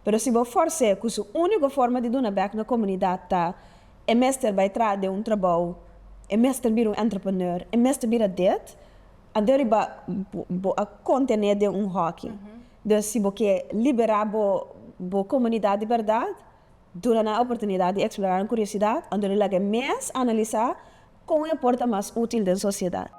Pero si bo fors'é ku su úniko forma di duna bèk na komunidat ta e mester bai tras den un trabou, e mester bira un entrepreneur, e mester bira dit, anto riba bo a kontené den un hòki. Dus si bo ke liberá bo bo komunidat di bèrdat, duna nan e oportunidat di eksplorá nan kuriosidat, anto lo laga e mes analisá, Kon e por ta mas útil den sosiedat?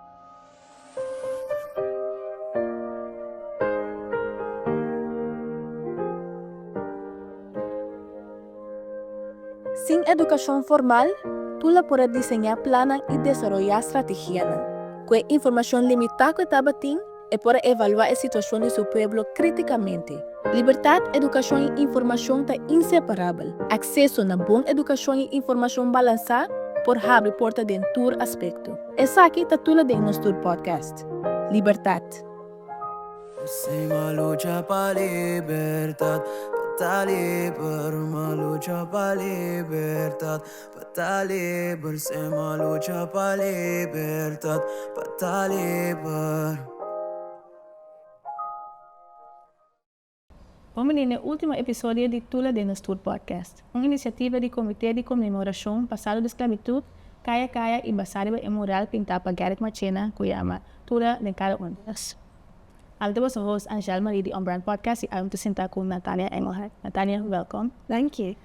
Sin edukashon formal, tur lo por a diseñá plannan i desaroyá strategianan. Ku e informashon limitá ku e tabatin, E por a evaluá e situashon di su pueblo krítikamente. Libertat, edukashon i informashon ta inseparabel. Akseso na bon edukashon i informashon balansá por habri porta den tur aspekto. Esaki ta tula den nos tur podcast. Libertat. Pa ta liber sem a lucha pa libertad pa ta liber. Bon bini na e ultimo episodio di Tula den nos tur podcast, un inisiativa di Comité di Conmemoracion pa Salo di Sclavitud, Kaya Kaya, y basá riba e mural pintá pa Garrick Marchena cu yama Tula den cada un di nos. Ami ta boso host Angèle Marie di Unbrand Podcast y awor mi ta sintá cu Natania Engelhardt. Natania, welcom. Danki.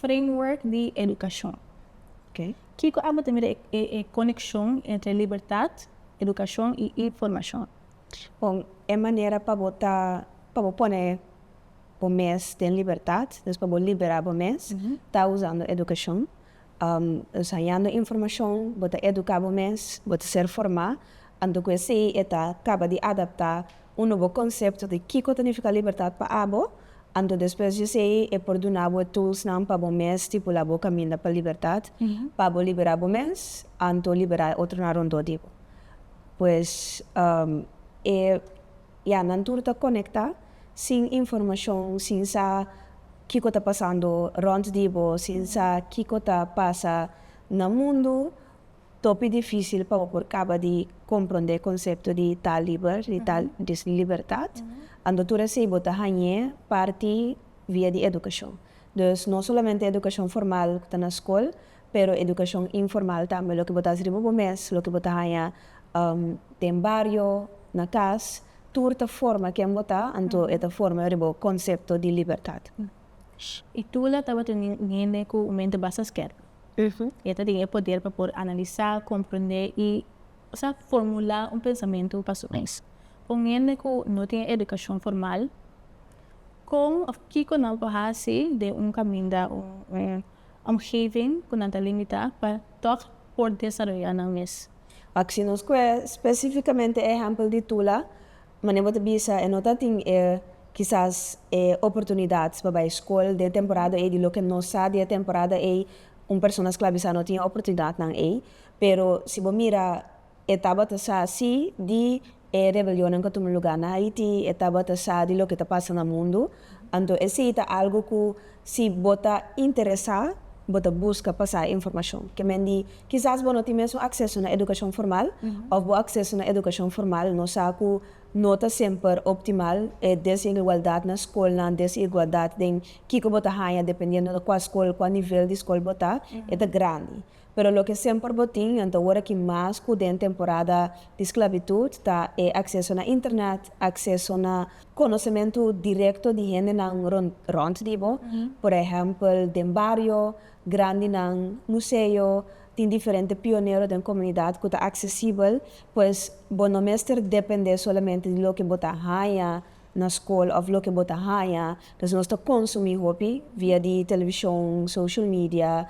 Framework di edukashon. Kiko abo ta mira e konekshon entre libertat, edukashon i informashon? Bon, e manera pa bo ta, pa bo pone bo mes den libertat, dus pa bo liberá bo mes, ta usando edukashon. Nos hañando informashon, bo ta eduká bo mes, bo ta ser formá. Anto cu esey e ta caba di adapta un nobo concepto di kico ta nifica libertad pa abo, anto despues di esey e por duna bo e toolsnan pa bo mes stipula bo caminda pa libertad, pa bo libera bo mes anto libera e otronan rondó di bo. Pues e ya nan tur ta conecta sin informacion, sin sa kico ta pasando rond di bo, sin sa kico ta pasa na mundo. Topi dificil pa bo por caba di compronde concepto di taal liber, di taal di libertad, ando tur esey bo ta hañe parti via di educacion. Dus no solamente educacion formal cu ta na scol, pero educacion informal tambe, loke bo ta haci riba bo mes, loke bo ta haña den bario, na cas, tur ta forma ken bo ta, anto e ta forma riba bo concepto di libertad. Y Tula tabata un hende cu un mente basta skerp. E ta tin e poder pa por analisá, komprendé i sa formulá un pensamentu pa su mes. Pa un hende ku no tin e edukashon formal, kon òf kiko nan por hasi den un kaminda, un omgeving ku nan ta limitá pa tòg por desaroyá nan mes? Aki nos kue spesífikamente e ehèmpel di Tula. Mane bo ta bisa e no ta tin e kisas e oportunidad pa bai skol den e temporada ei di loke no sa di e temporada ei un persona sklabisá no tin e oportunidadnan ei pero si bo mira e tabata sa si di e rebelionnan ku a tuma lugá na Haití e tabata sa di loke ta pasa na mundu Anto esei ta algu ku si bo ta interesá, bo ta buska pasá e informashon. Ke men di, Kisas bo no tin mesun akseso na edukashon formal, òf bo akseso na edukashon formal no sa ku no ta semper optimal, e desigualdat na skolnan, desigualdat den kiko bo ta haña dependiendo de kua skol, kua nivel di skol bo ta, e ta grandi. Pero loke semper bo tin nan ta ora ki mas ku den temporada di sklabitut ta e akseso na internet, akseso na konosementu direkto di hendenan rònt di bo, por ehèmpel den bario, grandinan, museo, tin diferente pionero den komunidat ku ta aksesibel, pues bo no mester dependé solamente di loke bo ta haña na skol of loke bo ta haña, pues nos ta konsumí hopi via di televishon, social media,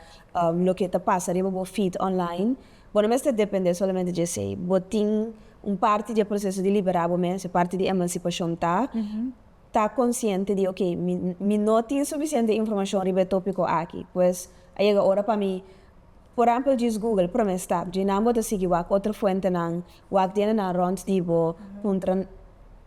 loke ta pasa riba bo feed online. Bo no mester dependé solamente dje esei. Bo tin un parti di e proseso di liberá bo mes, e parti di emansipashon ta ta konsiente di oke, mi mi no tin sufisiente informashon riba e tópiko aki, pues a yega ora pa mi. Por èmpel djis Google promé stap dje nan bo ta sigui wak otro fuentenan, wak diendenan rònt di bo, puntra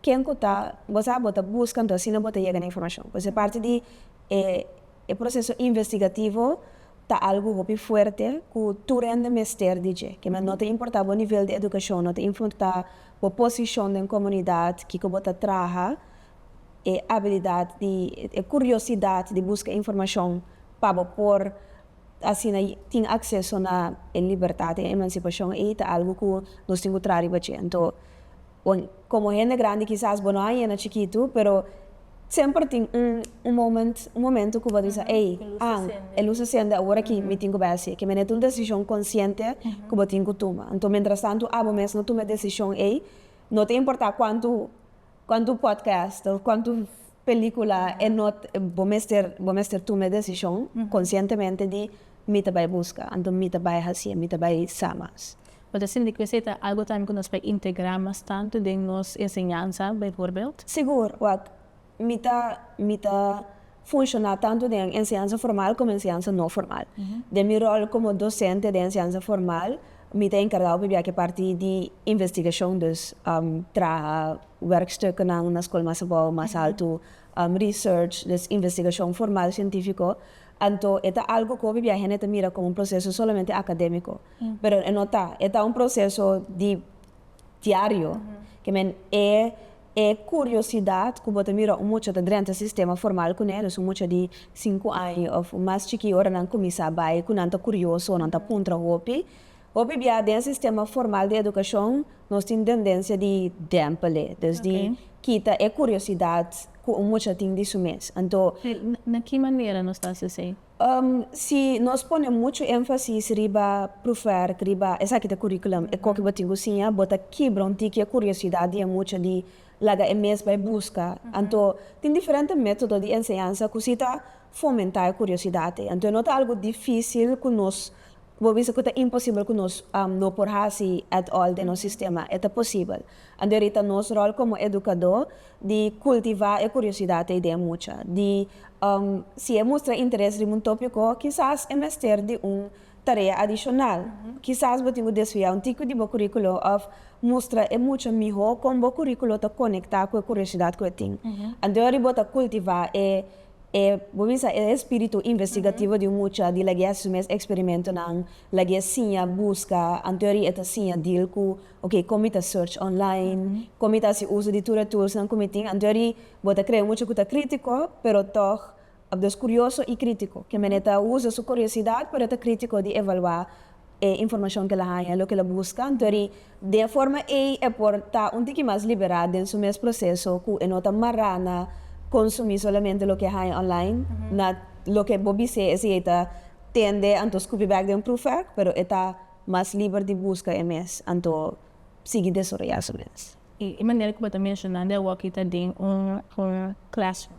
ken ku ta bo sa bo ta buska anto asina bo ta yega na informashon. Pues e parti di e e proseso investigativo ta algu hopi fuerte ku tur hende mester di dje, kema no ta importá bo nivel di edukashon, no ta infortá bo posishon den komunidat, kiko bo ta traha, e abilidat di e kuriosidat di buska informashon pa bo por. asina tin acceso na e libertad den emancipacion ey ta algo cu nos tin cu traha riba dje. Anto bon como hende grandi kisas bo no a yena chikitu pero semper tin un un moment un momento cu bo ta bisa ey an e lus ta sende awor aki mi tin cu bay haci kimené ta un decision consciente cu bo tin cu tuma. Anto mientras tanto abo mes no tuma e decision ey no ta importa cuantu Cuantu podcast of cuantu pelicula e no bo mester bo mester tuma e decision conscientemente di mi ta bay busca anto mi ta bay haci mi ta bay sa mas. Bo ta sinti cu esey ta algo tambe cu nos bay integra mas tanto den nos enseñanza bijvoorbeeld? Sigur wak mi ta mi ta. funshoná tantu den enseñansa formal komo enseñansa no formal. Den mi ròl komo dosente den enseñansa formal, mi ta enkargá ku pibia ke parti di investigashon, dus traha wèrkstukennan na skol mas abou, mas altu, research, dus investigashon formal sientífiko. Anto e ta algu ku pibia hende ta mira komo un proseso solamente akadémiko, pero e no ta. E ta un proseso di diario ke men e e curiosidad cu bo ta mira un mucha ta drenta sistema formal cu ne dus un mucha di cinco año of mas chiki ora nan cuminsa bay cu nan ta curioso nan ta puntra hopi hopi bia den sistema formal di educacion nos tin dendencia di dempele dus di kita e curiosidad cu un mucha tin di su mes anto. Na ki manera nos ta haci esey? Si nos pone muchu énfasis riba proefwerk, riba esaki ta curriculum, e koki bo tin ku siña, bo ta kibra un tiki e kuriosidad di e mucha di laga e mes bai buska. Anto tin diferente método di enseñansa ku si ta fomentá e kuriosidad ei. Anto e no ta algu difísil ku nos bo bisa ku ta imposibel ku nos no por hasi at all den nos sistema. E ta posibel. A deri ta nos ròl komo edukadó di kultivá e kuriosidat ei den e mucha. Di si e mustra interes riba un tópiko, kisas e mester di un tarea adishonal. Kisas bo tin ku desviá un tiko di bo kuríkulo òf mustra e mucha mihó kon bo kuríkulo ta konektá ku e kuriosidat ku e tin. A deri bo ta kultivá e e bo bisa e espíritu investigativo di un mucha di lag'é hasi su mes eksperimentonan, lag'é siña, buska, a deri e ta siña dil ku Oke, kon mi ta search online, kon mi ta hasi uso di tur e toolsnan ku mi tin? Anto a ri, bo ta krea mucha ku ta kritiko, pero tòg abdos kurioso i kritiko. Ke mene ta usa su kuriosidat, pero ta kritiko di evaluá e informashon ku el a haña, loke el a buska. Anto a ri, den e forma ei e por ta un tiki mas liberá den su mes proseso ku e no ta mará na konsumí solamente loke e haña online, na loke bo bis'é esei ei ta tende anto skupi bèk den un proefvèrk, pero e ta. Mas liber di buska e mes, anto sigui desoroyá su mes. E manera ku bo ta menshonando awòkí ta den un classroom,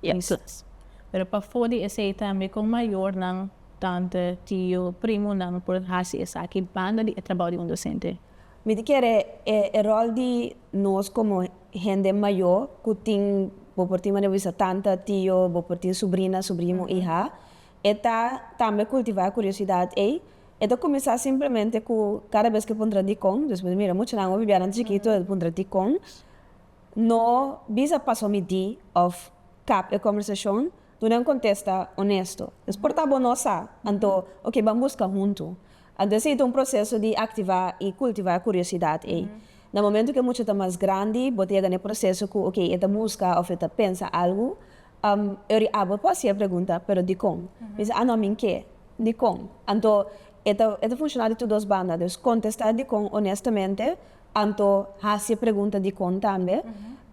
un klas. Pero pafó di esei tambe kon mayornan, tante, tio, primonan por hasi esaki banda di e trabou di un dosente? Mi ta kere e ròl di nos komo hende mayó ku tin, bo por tin manera bo bisa tanta, tio, bo por tin subrina, subrimo, iha, e ta tambe kultivá e kuriosidat ei. E ta kuminsá simplemente ku kada bes ku e puntra dikon, dus mi mira muchanan ofi bianan chikito e puntra dikon, no bisa pas pa mi di òf kap e kòmbersashon, duna un kontesta onesto. No sportá bo no sa, anto oke ban buska huntu. Anto esei ta un proseso di aktivá i kultivá e kuriosidat ei. Na momentu ku e mucha ta mas grandi bo ta yega na e proseso ku oke e ta buska òf e ta pensa algu, Eri abo por haci e pregunta, pero dicon? Mi dice, ah no, mi n'ke. Dicon? Anto, e ta e ta funciona di tur dos banda. Dus, contesta dicon honestamente, anto haci e pregunta dicon tambe.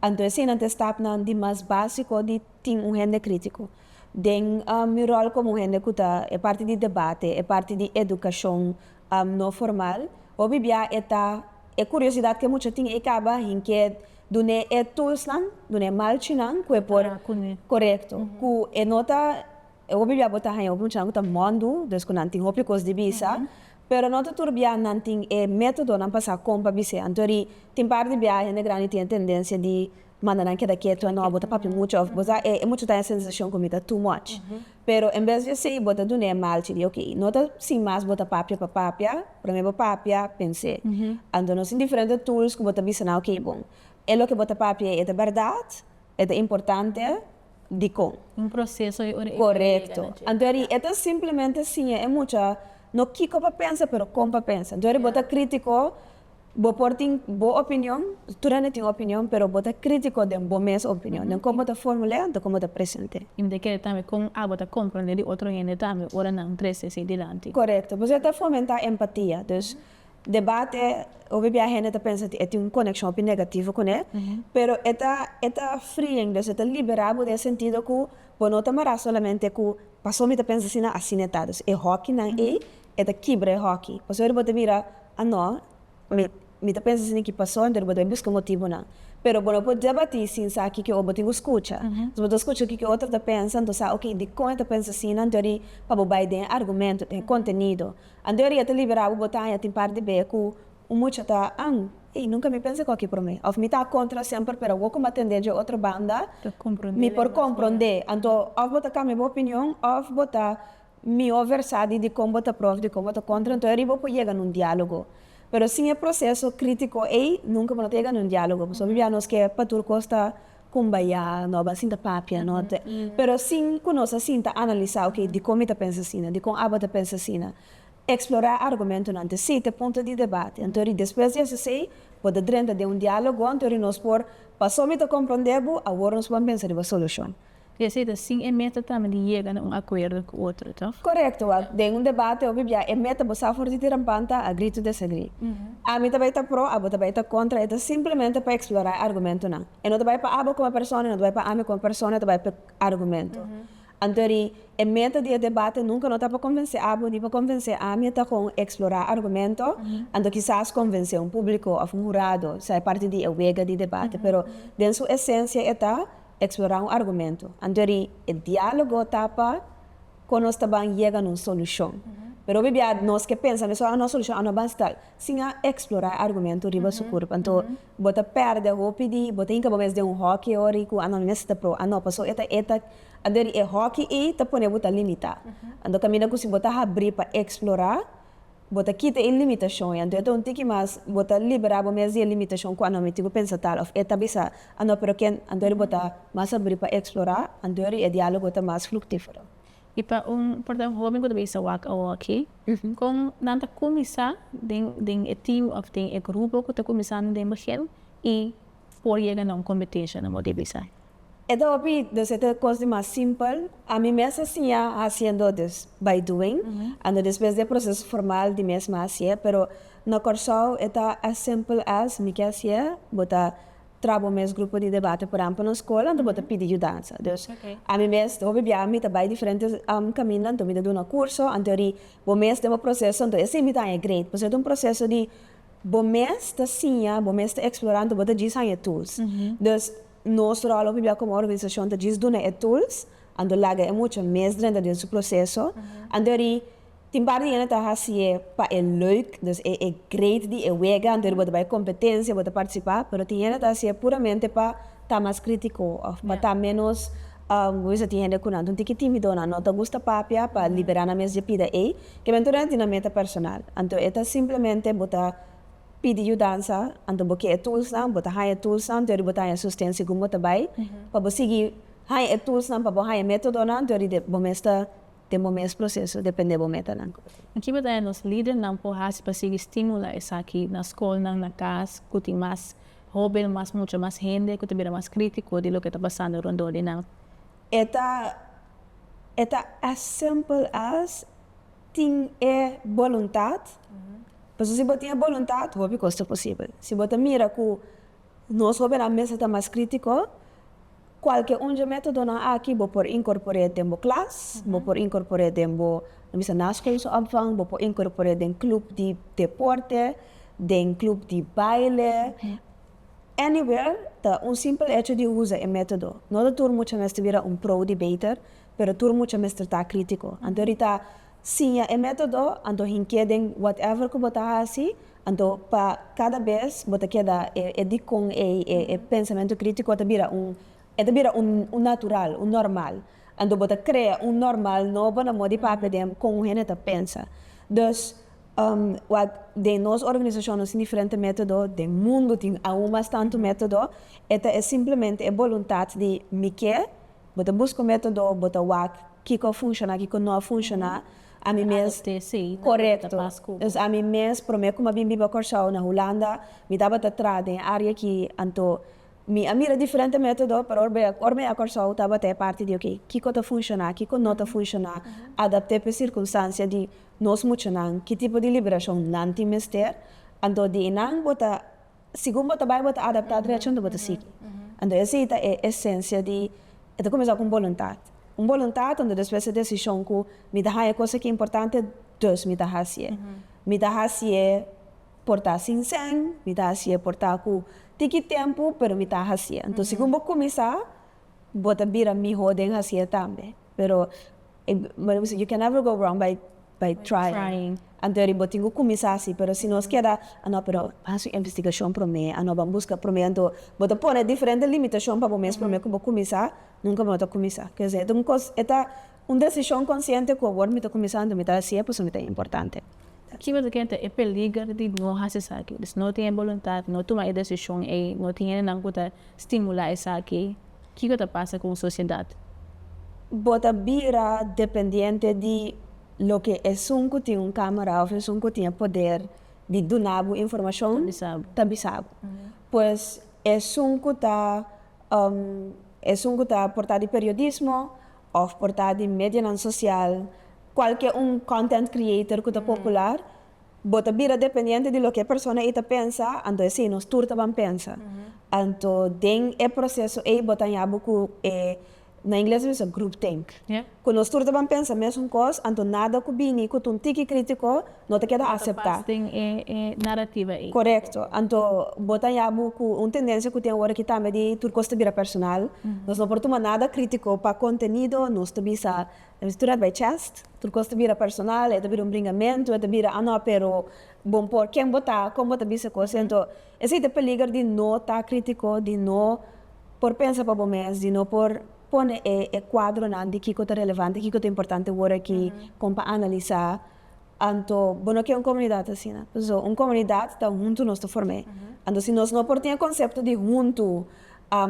Anto eseinan ta e stapnan di mas basico di tin un hende critico. Den mi rol como un hende cu ta e parti di debate, e parti di educacion, no formal. Hopi bia e ta e curiosidad cu e mucha tin ei caba hinke dun'e e toolsnan, dun'e malchinan cu e por, corecto, cu e no ta, hopi bia bo ta haya hopi muchanan cu ta mondu, dus cu nan tin hopi cos di bisa, pero no ta tur bia nan tin e metodonan pa sa con pa bis'e. Anto ri tin parti bia hende grandi tin e tendencia di manda nan keda keto, no, bo ta papia mucha of bo sa e mucha ta haya sensacion cu mi ta too much. Pero en bes di esei bo ta dun'é malchi di ok, no ta sin mas bo ta papia pa papia, promé bo papia, pens'é. Anto nos tin diferente tools ku bo ta bisa nan ok bon, e loke bo ta papi'é e ta bèrdat? E ta importante? Dikon? Un proseso ei ora e kore llega na dje. Korekto. Anto eri e ta simplemente siña e mucha no kiko pa pensa pero kon pa pensa. Anto eri bo ta krítiko Bo por tin bo opinion, tur hende tin opinion, pero bo ta critico den bo mes opinion, den con bo ta formul'e anto con bo ta present'e. Y mi ta kere tambe con abo ta comprende di otro hende tambe ora nan trece así dilanti. Corecto. Pues e ta fomenta empatia. Dus debate, hopi bia hende ta pensa di e tin un coneccion hopi negativo cune, pero e ta e ta freeing, dus e ta libera bo den sentido cu bo no ta mara solamente cu pasobra mi ta pensa asina, asina e ta. Dus e hokinan ey e ta kibra e hoki. Pasobra bo ta mira, Ah no, mi, mi ta pensa esaki pasó, anto bo ta bai buska motibunan. Pero bo no por debatí sin sa kiko bo tin ku skucha. Si bo ta skucha kiko e otro ta pensa, anto sa oke dikon e ta pensa asina, anto di pa bo bai den e argumento, den e kontenido. Anto e riba ta libera bo, bo ta haña tin parti b'e ku un mucha ta, An, ei, nunka mi pensa kòkè promé. Òf mi ta a kontra semper, pero awor ku mi a tendé dje otro banda, mi por komprondé. Anto, òf bo ta kambia bo opinion, òf bo ta. Mi over sa di di kon bo ta prof di kon bo ta kontra enton eri bo por yega na un dialogo pero sin e proseso kritiko ey nunka bo no ta yega na un dialogo pasobra bia nos ke pa tur kos ta kumbayá no ba sinta papia no te pero sin ku nos a sinta analisá ok di kon mi ta pensa asina di kon abo ta pensa asina eksplorá argumentonan te si te punto di debate enton eri despues di esei si bo ta drenta den un dialogo enton eri nos por paso mi ta kompronde bo awor nos por a pensa riba solushon. Di así ta sin e meta tambe di yega na un akuerdo ku otro, to? Korekto, wak. Den un debate hopi bia e meta bo sa for di tirampan ta agree to disagree. Ami ta bai ta pro, abo ta bai ta kontra, e ta simplemente pa eksplorá e argumentonan. E no ta bai pa abo kome persona, e no ta bai pa ami kome persona, e ta bai pa e argumento. Anto ri, e meta di e debate nunka no ta pa konvensé abo ni pa konvensé ami, e ta kon eksplorá argumento, anto kisas konvensé un públiko òf un hurado sa e parti di e wega di debate, pero den su esensia e ta Explorá un argumento. Antori e diálogo ta pa kon nos ta ban yega na un solushon. Pero hopi bia nos ke pensa mesun, ah, no solushon a no ban sta sin a explorá e argumento riba su kurpa. Anto bo ta pèrdè hopi di, bo ta hinka bo mes den un hòki ahori ku, ah, no, mi mester ta proba, ah, no, pasó e ta e ta. Antori e hòki ei ta pone bo ta limitá. Anto kaminda ku si bo ta habrí pa explorá, Bo ta kita e limitashon, i anto e ta un tiki mas, bo ta liberá bo mes di e limitashon ku a no miti bo pensa tal òf e ta bisa a no, pero ken anto di bo ta mas abrí pa eksplorá, anto di e diálogo ta mas fruktífero. I pa un pòrta hóben ku ta bisa wak awor aki, kon nan ta kuminsá den e team òf den e grupo ku ta kuminsando den begin? I. por yega na un competencia no bo di bisa. E ta hopi nos e ta cos di mas simpel, ami mes a siña haciendo dus by doing, ando despues di e proceso formal di mes mi a haci'e, pero na Corsou e ta as simpel as mi ke haci'e, bo ta tra bo mes grupo di debate por ehempel na school anto bo ta pidi yudansa, dus ami mes hopi bia mi ta bay diferente caminda anto mi ta duna curso anterior bo mes den bo proceso anto e si mi ta haña grade pasobra e ta un proceso di Bo mes ta siña, bo mes ta eksplorá anto bo ta djis haña tools. Dus nos ròl hopi bia komo organisashon ta djis duna e tools, anto laga e mucha mes drenta den su proseso. Antori tin par di hende ta hasié pa e leuk, dus e e great di e wega, antori bo ta bai kompetensia, bo ta partisipá, pero tin hende ta hasié puramente pa ta mas critico of pa ta menos guisa tin hende cu nan tin ki timido nan no ta gusta papia pa libera nan mes dje pida ey kiber anto nan tin nan meta personal anto e ta simplemente bo ta pidi yudansa anto bo ke e tools nan bo ta haya e tools nan teori bo ta haya susten segun bo ta bay pa bo sigui haya e tools nan pa bo haya metodo nan teori de bo mes ta den bo mes proseso depende bo metanan. Kico ta e nos lidernan por haci pa sigui stimula esaki na scolnan, na cas, cu tin mas hoben, mas mucha, mas hende cu ta bira mas critico di loke ta pasando rondor di nan? E ta e ta as simpel as tin e boluntad, pasobra si bo tin e boluntad hopi cos ta posibel. Si bo ta mira cu. Nos hobennan mester ta mas crítico. Cualke un dje métodonan aki bo por incorpor'é den bo klas, bo por incorpor'é den bo, lo mester na skolse opvang, bo por incorpor'é den club di deporte, den club di baile, anywhere ta un simpel hecho di usa e método. No ta tur mucha mester bira un pro-debater, pero tur mucha mester ta crítico. Anto rita Siña e método, anto hink'é den whatever ku bo ta hasi, anto pa kada bes bo ta keda e dikon ei, e pensamentu krítiko a ta bira un, e ta bira un natural, un normal. Anto bo ta krea un normal nobo na modi papia den kon un hende ta pensa. Dus, wak den nos organisashon nos tin diferente método, den mundu tin aun mas tantu método, e ta e simplemente e boluntat di mi ke, Bo ta busca un método, bo ta wak kiko a funciona, kiko no a funciona, ami mes, corecto, dus ami mes prome cu mi a bin biba Cor-sou na Hulanda, mi tabata traha den área aki, anto mi a mira diferente método, pero ora ora mi a ya Cor-sou tabata e parti di ok, kiko ta funciona, kiko no ta funciona, adapté p'e circunstancia di nos muchanan, ki tipo di liberacion nan tin mester, anto di einan bo ta. Segun bo ta bai bo ta adaptá dret junto bo ta sigui. Anto esei ta e esensia di e ta kuminsá ku un boluntat. Un boluntat anto despues e desishon ku mi ta haña kos aki importante dus mi ta hasié. Mi ta hasié por ta sinsèn, mi ta hasié por ta ku tiki tempu pero mi ta hasié. Anto segun bo kuminsá Bo ta bira miho den hasi e tambe. Pero bo bisa you can never go wrong by by trying. Antoeri bo tin ku kuminsá hasi pero si nos keda anó pero ban haci un investigashon promé anó ban buska promé anto bo ta pone diferente limitashon pa bo mes promé ku bo kuminsá nunka bo no ta kuminsá. Kier kosé e ta un kos e ta Un desishon konsiente ku awor mi ta kuminsando mi ta hasi e pasobra mi ta importante. Kiba ta kenta e peliger di no hasi esaki? Di no tin e boluntat, no tuma e desishon ei, no tin hendenan ku ta stimulá esaki, kiko ta pasa ku un sosiedat? Bo ta bira dependiente di loke esun ku tin un kámara òf esun ku tin e poder di duna bo informashon ta bisa bo. Pues esun ku ta esun ku ta portá di periodismo, Of por ta di medianan sosial, kualke un content creator ku ta popular, bo ta bira dependiente di loke e persona ei ta pensa, anto esei nos tur ta ban pensa. Anto den e proseso ei bo ta haña bo ku e, na ingles nos bisa groupthink, ku nos tur ta ban pensa mesun kos, anto nada ku bini ku ta un tiki kritiko No ta keda aseptá. Den e narrativa ei. Korekto. Anto bo ta yabu ku un tendensia ku tin ora ki tambe di tur kos ta bira personal. Nos no por tuma nada krítiko pa kontenido. Nos ta bisa ta bisa tur at bai chèst. Tur kos ta bira personal, e ta bira un bringamentu, e ta bira a no pero bo mpor ken bo ta, kon bo ta bisa kos ei. Anto esei ta peliger di no ta krítiko, di no por pensa pa bo mes, di no por pone e kuadronan di kiko ta relevante, kiko ta importante ora ki kon pa analisá. Anto bo no ke un komunidat asina. Paso un komunidat ta huntu nos ta form'é. Anto si nos no por tin e konsepto di huntu,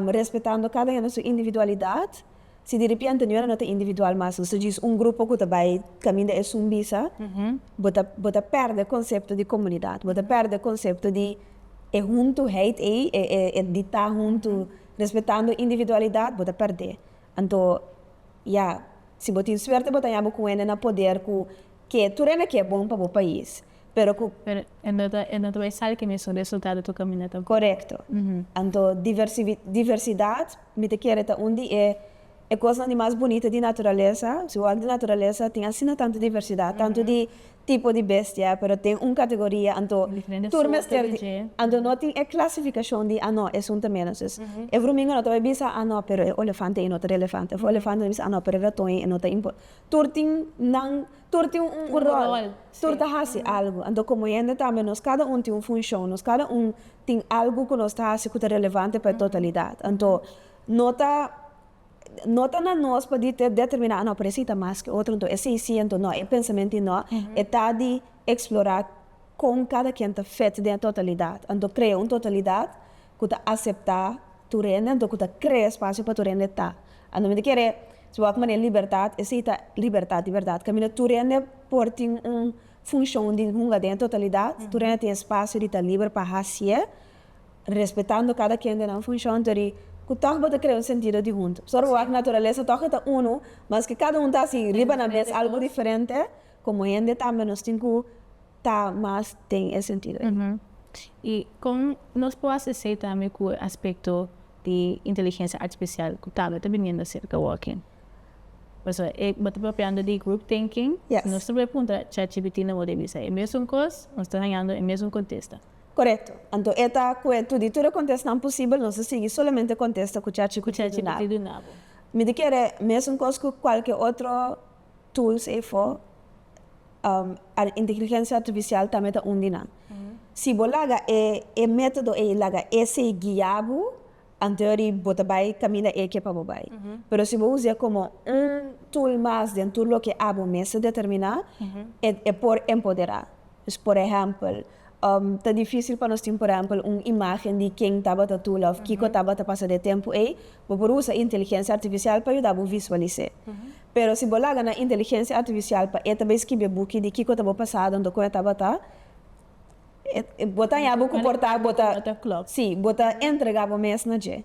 respetando kada hende su individualidat, si diripiente niun hende no ta individual mas, nos ta djis un grupo ku ta bai kaminda e sun bisa, bo ta bo ta pèrdè e konsepto di komunidat. Bo ta pèrdè e konsepto di e huntuheid ei, e e di ta huntu respetando individualidat, bo ta pèrd'é. Anto. Ya, si bo tin suerte bo ta haña bo kuenda na poder ku ke tur ende ke bon pa bo pais, pero ku. Pero e no ta e no ta bai sal ke mesun resultado tur kaminda tampoco. Korekto. Anto diversivi diversidat mi ta kere ta un di e e kosnan di mas bunita di naturalesa. Si bo wak di naturalesa tin asina tantu diversidat, tantu di tipo di bestia pero tin un categoria anto tur mester di anto no tin e clasificacion di a no es un tambe entonces e brumingo no ta bay bisa a no pero e olefante ey no ta relevante of olefante ta bisa a no pero e raton ey no ta impor tur tin nan tur tin un rol tur ta haci algo anto como hende tambe nos cada un tin un funcion nos cada un tin algo cu nos ta haci cu ta relevante pa e totalidad anto no ta No ta na nos pa di te determiná anó presi ta mas ke otro, anto e seis siento no, e pensamenti no, e ta di eksplorá kon kada kien ta fit den e totalidat, anto krea un totalidat ku ta aseptá tur hende, anto ku ta krea espasio pa tur hende ta. Anto mi ta kere, si bo wak manera libertat, esei ta libertat di bèrdat, kaminda tur hende por tin un funshon di hunga den e totalidat, tur hende tin espasio di ta liber pa hasié Respetando kada kien den nan funshon tori ku tòg bo ta krea un sentido di huntu. Sor bo wak naturalesa tòg e ta unu, maske kada un ta hasi riba nan mes algu diferente, komo hende tambe nos tin ku ta mas den e sentido ei. I kon nos por hasi esei tambe ku e aspekto di inteligensia artipisial ku tambe ta biniendo serka wòking? Pasobra e bo ta propiando di group thinking. Si nos ta por e puntra chatgpt no bo ta bisa e mesun kos, nos ta hañando e mesun kontesta. Korekto. Anto e ta ku e tuditu e kontestanan posibel, nos ta sigui solamente kontesta ku chachi ku titi nabo. Mi ta kere mesun kos ku kualke otro tools efo, inteligensia artifisial tambe ta un di nan. Si bo laga e metodo ei laga esei guia bo, An teori bo ta bai kaminda e ke pa bo bai. Pero si bo us'é komo un tool mas den tur loke abo mes a determiná, e e por empoderá. Dus por ehèmpel, ta difísil pa nos tin por ehèmpel un imágen di ken tabata tula òf kiko tabata pasa den e tempu ei, bo por usa inteligensia artifisial pa yuda bo visualis'é. Pero si bo laga na inteligensia artifisial pa e ta bai skibi e buki di kiko ta bo pasado anto kon e tabata, Bo ta haña bo komportá, bo ta, sí, bo ta entregá bo mes na dje.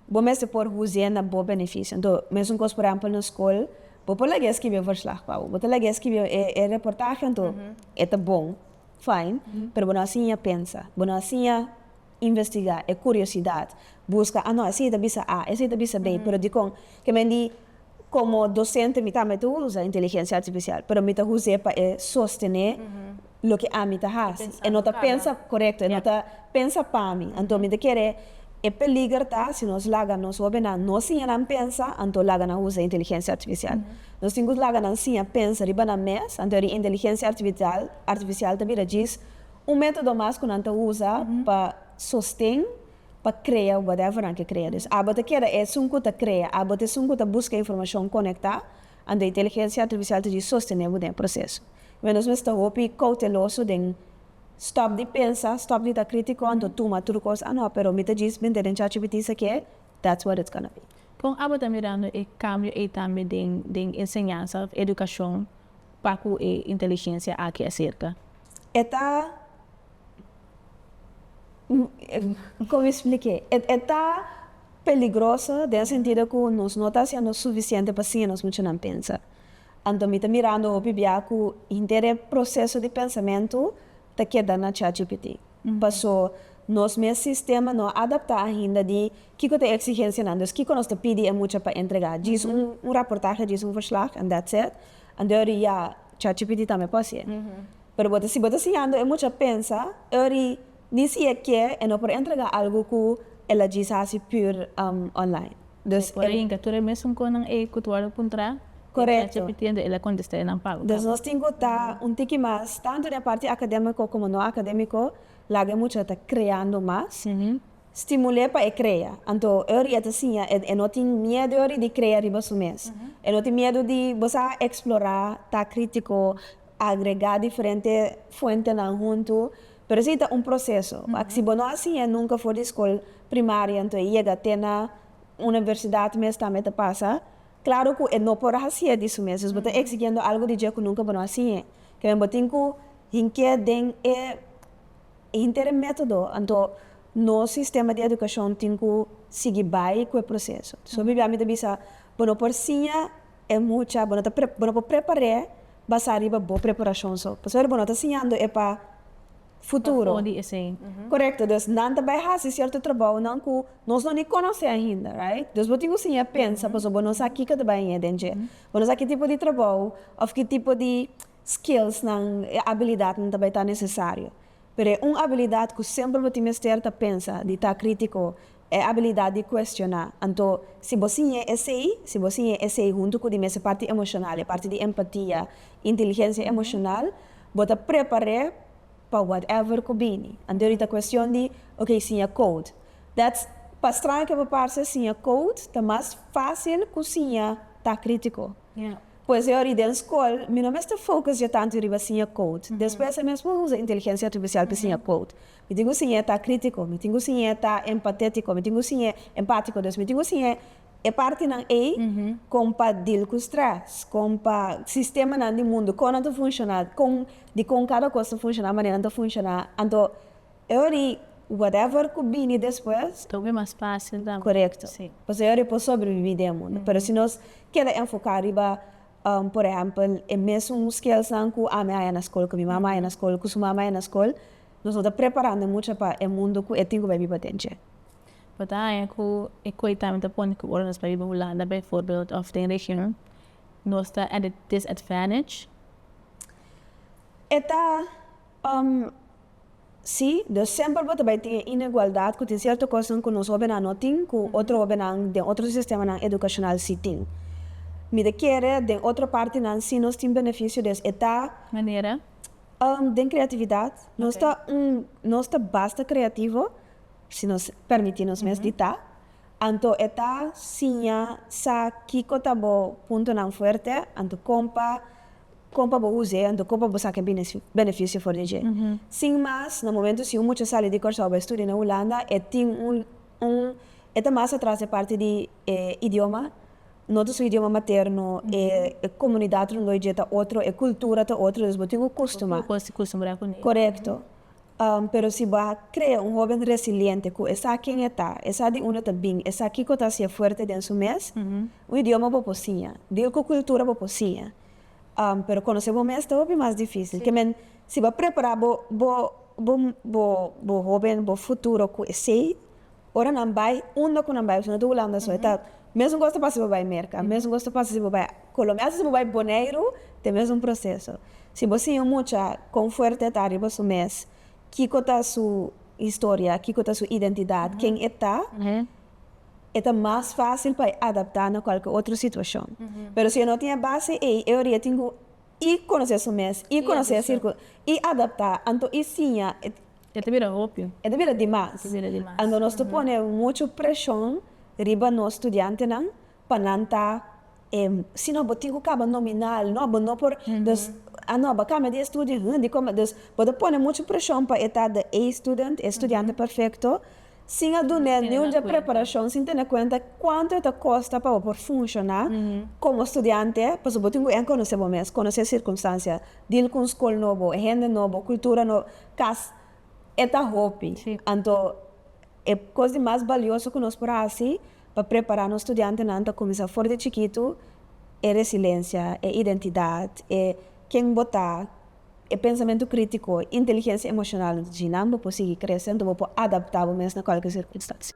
Bo mester por huzié na bo benefisio. Anto, mesun kos, por ehèmpel, na skol, bo por lag'é skibi e verslag pa bo. Bo ta lag'é skibi e reportahe anto e ta bon, fijn, pero bo no a siña pensa, bo no a siña. Investigá, e curiosidat, busca, ah no, esei ta bisa A, esei ta bisa B, pero dicon? Ke men di, como docente mi tambe ta usa inteligencia artificial, pero mi ta huz'é pa e sostene loke ami ta haci, e no ta pensa, correcto, e no ta pensa pa mi, anto mi ta kere, e peliger ta si nos laga nos hobennan no siña nan pensa, anto laga nan usa inteligencia artificial. Nos tin cu laga nan siña pensa riba nan mes, anto eri inteligencia artificial ta bira djis Un método mas ku nan ta usa pa sosten pa krea whatever nan ke krea. Dus abo ta keda esun ku ta krea, abo ta esun ku ta buska informashon konektá, anto inteligensia artificial ta djis sostené bo den e proseso. Pabia nos mester hopi kouteloso den stòp di pensa, stòp di ta krítiko anto tuma tur kos a no, pero mi ta djis mete den chatgpt sa ke that's what it's gonna be. Kon abo ta mirando e kambio ei tambe den den enseñansa òf edukashon pa ku e inteligensia aki aserka? E ta como mi spliké e ta peligroso den e sentido ku nos no ta hasiendo sufisiente pa siña nos muchanan pensa anto mi ta mirando hopi bia ku henter e proseso di pensamentu ta keda na chatgpt paso nos mes sistema no a adapta ainda di kiko ta e eksigensianan dus kiko nos ta pidi e mucha pa entregá djis un raportahe djis un verslag and that's it Andeori ya chachi piti tambe por hacié. Pero bo ta si bo ta siñando e mucha pensa e ori ni si e kier e no por entrega algo cu el a djis haci pur online. Bo por yinga tur e mesun conan ey cu Tuardo puntra e chachi piti ende el a contesta enan pago. Correcto. Entonces nos tin cu ta un tiki mas tanto den e parti academico como no academico laga e mucha ta creando mas. Stimul'é pa e krea. Anto Uri e ta siña e e no tin miedu Uri di krea riba su mes. E no tin miedu di bo sa eksplorá, ta krítiko, agregá diferente fuentenan huntu. Pero esei ta un proseso. Wak si bo no a siña e nunka for di skol primaria anto e yega te na universidat mes tambe ta pasa. Klaro ku e no por hasié di su mes. Pues bo ta eksigiendo algu di dje ku nunka bo no a siñ'é. Kende bo tin ku hink'é den e. Henter e método, anto nos sistema di edukashon tin ku sigui bai ku e proseso. So bibia mi ta bisa, bo no por siña e mucha, bo no ta bo no por prepar'é basá riba bo preparashon so, pasobra bo no ta siñando e pa futuro. Pafó di esei. Korekto, dus nan ta bai hasi sierto trabounan ku nos no ni konosé ainda, right? Dus bo tin ku siña pensa, pasobra bo no sa kiko ta bai ña den dje. Bo no sa ki tipo di trabou òf ki tipo di Skillsnan, e abilidatnan ta bai ta nesesario, pero e un abilidat ku semper bo tin mester ta pensa di ta krítiko, e abilidat di kuestioná. Anto, si bo siñ'é esei, si bo siñ'é esei huntu ku di mester parti emoshonal, e parti di empatia, inteligensia emoshonal, bo ta prepar'é pa whatever ku bini. Anto di ta kuestion di, ok, siña code. That's, pa straño ke bo parse, siña code ta mas fásil ku siña ta krítiko. Pues e ora den skol mi no mester focus dje tantu riba siña code. Despues e mesmo usa inteligencia artificial pi siña code. Mi tin cu siñ'e ta critico, mi tin cu siñ'e ta empatetico, mi tin cu siñ'e empatico. Dus mi tin cu siñ'e e partinan ey con pa deal cu stress, con pa sistemanan di mundo con nan ta funciona, con dicon cada cos ta funciona, manera nan ta funciona. Anto. E ora i whatever ku bini despues. Ta hopi mas fásil tambe. Korekto. Pasobra e ora e por sobrebibí den e mundu. Pero si nos keda enfoká riba, por ehèmpel, e mesun skillsnan ku ami haña na skol, ku mi mama haña na skol, ku su mama haña na skol, nos no ta preparando mucha pa e mundu ku e tin ku bai biba den dje. Bo ta haña ku e kue ta mi ta pone ku ora nos bai biba Hulanda beivoorbeeld òf den region, nos ta at a disadvantage? E ta. Um, sí, nos semper bo ta bai tin e inegualdad cu tin cierto cosnan cu nos hobennan no tin cu otro hobennan den otro sistemanan educacional sí tin. Mi ta kere den otro partinan sí nos tin beneficio des e ta. Manera? Um, den creatividad. Nos ta un, nos ta basta creativo, si nos permiti nos mes di ta. Anto e ta siña sa kico ta bo puntonan fuerte, anto con pa Kon pa bo usa e anto kon pa bo saka e benefisio for di dje. Sin mas, na momentu si un mucha sali di Kòrsou bai studia na Hulanda e tin un un e ta mas atras den parti di e idioma, no ta su idioma materno, e komunidat rondoi dje ta otro, e kultura ta otro, dus bo tin ku kustuma. Korektto. Pero si bo a krea un hóben resiliente ku e sa ken e ta, e sa di unda ta bin, e sa kiko ta hasié fuerte den su mes, un idioma bo por siña, dil ku kultura bo por siña, pero konosé bo mes ta hopi mas difísil. Ke men, si bo a prepará bo hóben, bo futuro ku esei. Ora nan bai, unda ku nan bai? Osuna ta Hulanda so, e ta mesun kos ta pasa si bo bai Merka, mesun kos ta pasa si bo bai Kolomia, asta si bo bai Boneiru ta e mesun proseso. Si bo siña un mucha kon fuerte e ta riba su mes, kiko ta su historia, kiko ta su identidat, ken e ta, e ta mas fásil pa e adaptá na kualke otro situashon. Pero si e no tin e base ei, e oria tin ku i konosé su mes, i konosé e sirkul, i adaptá, anto i siña. E ta bira hopi. E ta bira dimas. Ando nos ta pone muchu preshon riba nos studiantenan pa nan ta e si no bo tin ku kaba nominal no bo no por dus a no a bo a kambia di e studio huh dikome dus bo ta pone muchu preshon pa e ta the A student e studiante perfekto sin a dun'e niun dje preparashon sin tene kuenta kuantu e ta kosta pa bo por funshoná komo studiante pasobra bo tin ku en konosé bo mes konosé sirkunstansia dil ku un skol nobo hende nobo kultura nobo. Kas e ta hopi, anto e kos di mas balioso ku nos por hasi pa prepará nos studiantenan ta kuminsá for di chikitu e resilensha, e identidat, e ken bo ta, e pensamentu krítiko, inteligensha emoshonal. Anto djina bo por sigui krese, anto bo por adaptá bo mes na kòlke sirkunstansia.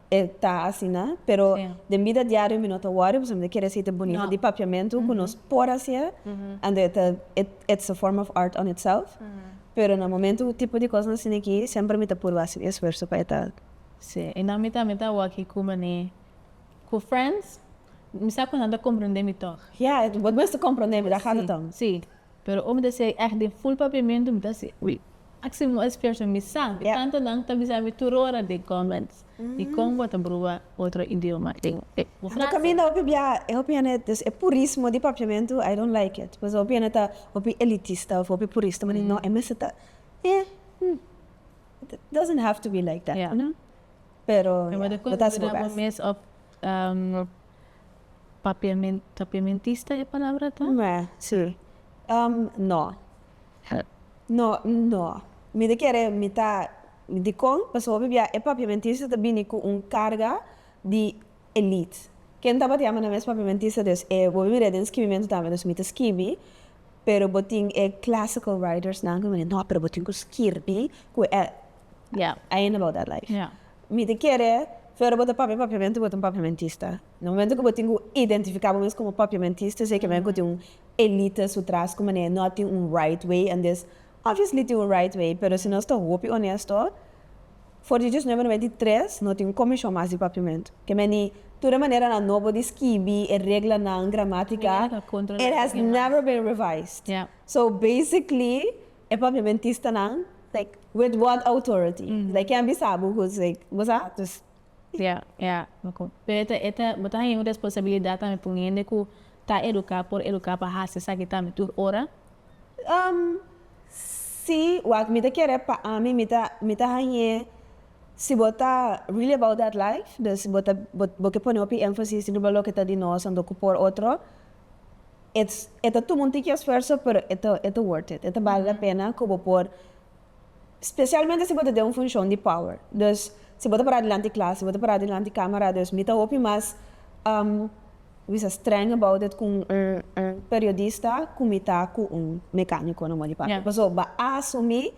E ta asina, pero den bida diario mi no ta wòri pasobra mi ta kere aceite bunita di papiamentu ku nos por hasi e, ando e ta it's a form of art on itself, pero na momento ku tipo di kosnan asina aki semper mi ta purba hasi un esfuerso pa e ta. Si, i nan mi tambe ta wòki ku Mané ku Frans, mi sa ku nan ta komprendé mi tòg. Ya, bo mes ta komprendé mi, ta gata tòg. Si, Pero ome ta siai ègt den ful papiamentu, mi ta si, Ui, aki si moe sferto mi sa! Ku tantu nan ta bisa mi tur ora den kòments di kon bo ta bruha otro idioma den e ku frase. Kaminda hopi biaha e hopi hende, dus e purismo di papiamentu, I don't like it. Pasobra hopi hende ta hopi elitista òf hopi purista, mi di, No, e mester ta eh, hmm, it doesn't have to be like that, you know? Pero, ya, bo ta hasi bo bèst. Papiamentista e palabra ta? No. No, no. Mi ta kere mi ta dikon pasobra mi bia e papiamentista ta bini ku un karga di elite. Ken tabata yama nan mes papiamentista dus e bo mira den skibimentu tambe dus mi ta skibi pero bo tin e classical writers nan ku mi bini no pero bo tin ku skirbi ku e Ya. Ayi no lo da life. Ya. Mi ta kere pero bo ta papia papiamento bo ta un papiamentista. Na momento cu bo tin cu identifica bo mes como papiamentista esey kimen cu tin un elite su tras cu manera no a tin un right way andes obviously tin un right way pero si nos ta hopi honesto for di diosnuebe noenta i tres no tin un comishon mas di papiamento kimen di tur e manera anobo di skibi e reglanan gramatica it has never been revised so basically E papia bentistanan like with what authority like ken a bisa bo cu like bo sa dus. Ya ya pero e ta bo ta haña un responsabilidad tambe pa un hende cu ta educa por educa pa haci esaki tambe tur ora? Um si wak mi ta kere pa ami mi ta mi ta haña si bo ta really about that life dus bo ta bo ke pone hopi emphasis riba loke ta di nos anto cu por otro it's e ta tuma un tiki esfuerso pero e ta e ta worth it e ta bali la pena ku bo por specialmente si bo ta den un funcion di power dus si bo ta para dilanti klas si bo ta para dilanti camera dus mi ta hopi mas bisa streng about it ku un un periodista ku mi ta ku un mecanico na modi papia paso ba asumi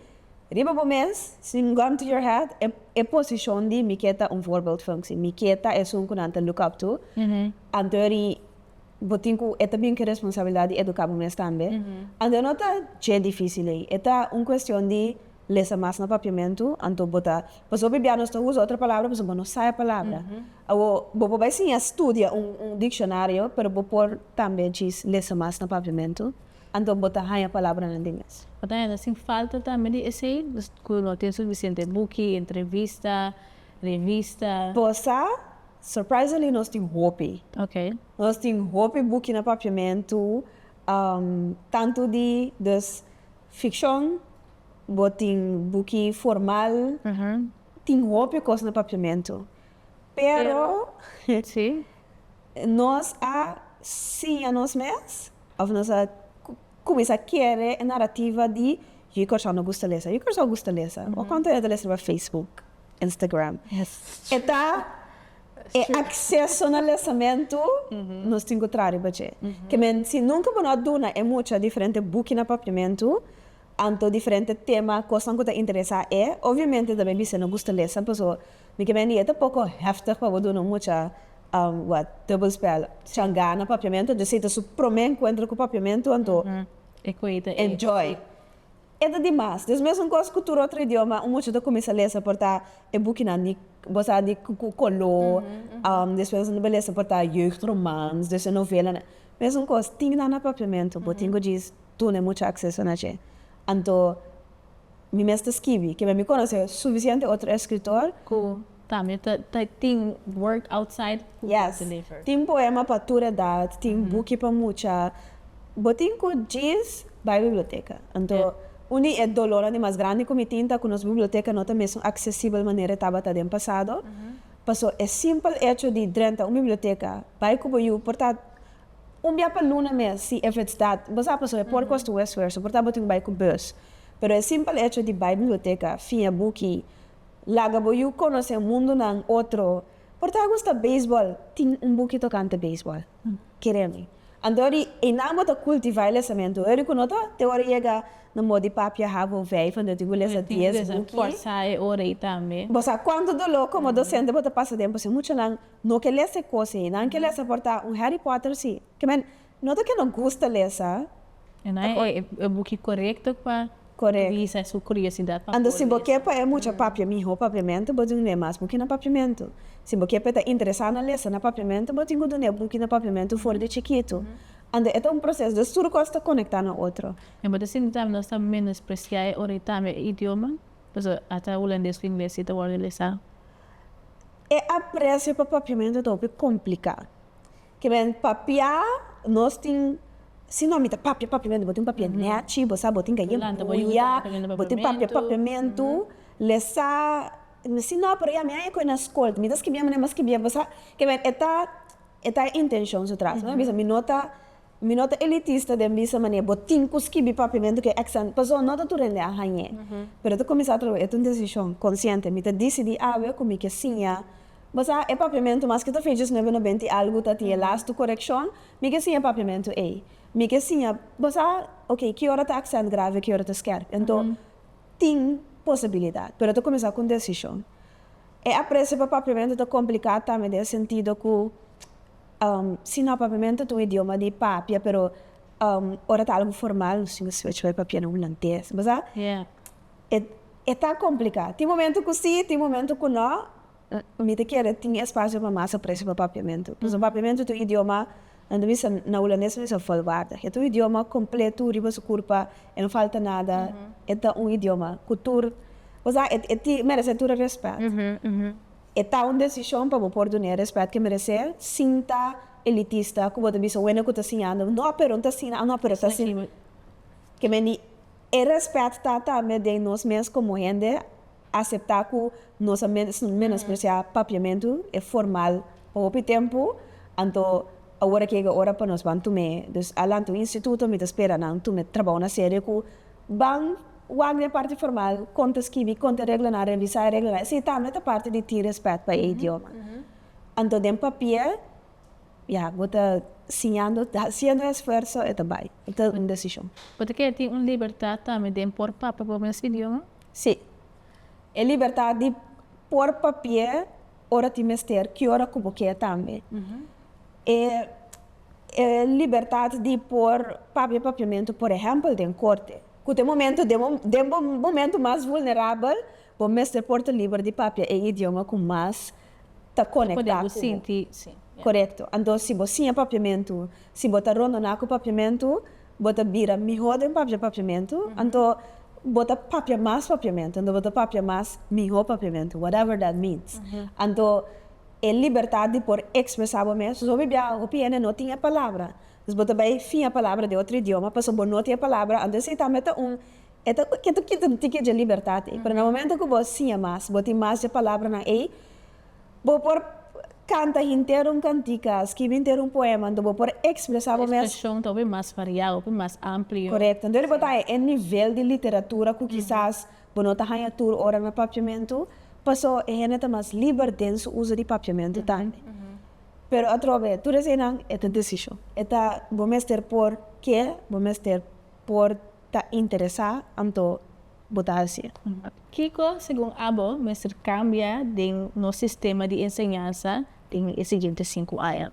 riba bo mes sin gun to your head e e posicion di mi ke ta un voorbeeldfunctie mi ke ta esun ku nan ta look up to anterior di bo tin cu e ta bin cu e responsabilidad di educa bo mes tambe, anto no ta dje dificil ey, e ta un cuestion di lesa mas na papiamento, anto bo ta, pasobra bia nos ta usa otro palabra pasobra bo no sa e palabra, awo bo por bai siña studia un un diccionario pero bo por tambe djis lesa mas na papiamento, anto bo ta haña palabranan di mes. Bo ta haña sin falta tambe di esey, cu no tin suficiente buki, entrevista, revista. Bo sa. Surprisingly nos tin hopi. Nos tin hopi buki na papiamentu, tantu di dus ficcion, bo tin buki formal, tin hopi cos na papiamentu. Pero nos a siña nos mes of nos a. Cuminsa kere e narrativa di Yu Corso no gusta lesa, Yu Corso gusta lesa. Bo a cuantu hende ta lesa riba Facebook, Instagram. E ta e acceso na lesamentu nos tin cu traha riba dje. Ke men si nunca bo no a duna e mucha diferente buki na papiamentu, anto diferente tema, cosnan cu ta interesa e, obviamente ta bay bisa e no gusta lesa, pasobra. Mi ke mendi e ta poko heftig pa bo duna un mucha wa dubbelspel. Shan gana papiamentu anto esei ta su prome enkuentro ku papiamentu anto enjoy. E ta di mas. Des mesun kos ku tur otro idioma un mucha ta kuminsá lesa por ta e bukinan di bo sa di ku koló despues nan ta bai lesa por ta jeugdromans despues novelanan. Mesun kos tin nan na papiamentu bo tin ku djis duna e mucha akseso na dje. Anto Mi mester skibi. Kibra mi konosé sufisiente otro eskritor. Ku tambe ta tin work outside ku ta deliver. Tin poema pa tur edat, tin buki pa mucha. Bo tin ku djis bai biblioteka. Anto un di e dolornan di mas grandi ku mi tin ta ku nos biblioteka no ta mesun aksesibel manera e tabata den pasado. Paso e simpel echo di drenta un biblioteka, bai ku bo yu por ta. Un bia pa luna mes, si e fetsdat, bo sa pasobra por kosta un esfuerso, por ta bo tin ku bai ku bus. Pero e simpel echo di bai biblioteka, fia buki, laga bo yu konosé mundunan otro, por ta gusta beisbòl, tin un buki tokante beisbòl, kere mi. Anto ori einan bo ta kultivá e lesamentu. Ori ku no ta, te ora yega na mos di papia habo vijf, anto tin ku lesa dies buki. Bo sa kuantu doló komo dosente bo ta pasa den, pasobra muchanan No ke lesa e kos ei. Nan ke lesa por ta un Harry Potter si. Ke men no ta ke no gusta lesa. E nan e e buki korekto pa kubisa su kuriosidat pa por lesa. E mucha papia miho papiamentu bo tin ku dune mas buki na papiamentu. Si bo ke pa e ta interesá na lesa na papiamentu bo tin ku dune buki na papiamentu for di chikitu. Ando e ta un proseso des tur kos ta konekta na otro. Mi bo ta sinti tambe nos ta menospresiá e ora i tambe e idioma. Pasobra ata hulandes ku ingles si ta wòrdu lesá. E aprecio pa papiamento ta hopi complica. Kiben papia nos tin si no mi ta papia papiamento bo tin papia nechi bo sa bo tin gaya buya bo tin papia papiamento le sa si no pero ya mi a ecu na scol mi ta skibiendo mi ta skibiendo bo sa kiben e ta e ta e intencion su tras mi a bisa mi no ta Mi no ta elitista den bisa manera bo tin cu skibi papiamento cu e exam paso no ta tur hende a hañ'e. Pero ta cuminsa atraves e ta un decision consciente. Mi ta dicidi awe cu mi ke siña basa e papiamento maske ta fecha diecinuebe no benti y algo ta tin e lastu correccion, mi ke siña e papiamento ey. Mi ke siña basa ok ki ora ta accent grave ki ora ta skerp. Ento tin posibilidad pero ta cuminsa cu un decision. E aprecio pa papiamento ta complica tambe den e sentido cu. Si no, papiamento ta un idioma di papia, pero ora ta algu formal nos tin aswitch pa e papia na hulandes. Bo sa, e ta complica. Tin momento cu si, tin momento cu no. Mi ta kere tin espacio pa mas aprecio pa papiamento. Pasobra papiamento ta un idioma, nan ta bisa, na hulandes ta bisa volwaardig. E ta un idioma completo riba su curpa, e no falta nada, e ta un idioma cu tur, bo sa, e merece tur e respet. E ta un desishon pa bo por duni e rèspèt ke meresé sin ta elitista ku bo ta bisa wende ku ta siñando no pero ta asina a no pero ta asina ke meni e rèspèt ta tambe den nos mes komo hende aseptá ku nos a menospresiá papiamentu e formal pa hopi tempu anto awor a kega ora pa nos ban tum'é dus a lanta un instituto mi ta spera nan tum'é trabou na serio ku Ban wak di e parti formal, kon ta skibi, kon ta reglanan, revisá e reglanan, esei tambe ta parti di tin rèspèt pa e idioma. Anto den papié, ya, bo ta siñando, ta hasiendo e esfuerso, e ta bai. E ta un desishon. Bo ta kere tin un libertat tambe den por papia bo mes idioma? Sí. E libertat di por papié ora tin mester, ki ora ku bo ke tambe. e e libertat di por papia papiamentu por ehèmpel den korte, ku te momentu den den bo momentu mas vulnerabel bo mester por ta liber di papia e idioma ku mas ta konektá ku bo. Korekto. Anto si bo siña papiamentu, si bo ta rondoná ku papiamentu, bo ta bira mihó den papia papiamentu, anto bo ta papia mas papiamentu, anto bo ta papia mas mihó papiamentu, whatever that means. Anto. E libertat di por ekspresá bo mes. Soso mi bia hopi hende no tin e palabra. Entonces bo ta bai finja palabra den otro idioma pasobra bo no tin e palabra. Anto si tambe ta un e ta kier ta kita un tiki dje libertat ei. Pero na momento ku bo siña mas, bo tin mas dje palabranan ei, bo por kanta henter un kantika, skibi henter un poema, anto bo por ekspresá bo mes. E ekspreshon ta hopi mas variá, hopi mas amplio. Korekto. Anto bai bo ta e nivel di literatura ku kisas Bo no ta haña tur ora na papiamentu, paso e hende ta mas liber den su uso di papiamentu tambe. Pero atrobe tur eseinan e ta desishon. E ta bo mester por ke, bo mester por ta interesá anto bo ta hasié. Kiko, segun abo, mester kambia den nos sistema di enseñansa den e siguiente sinku aña?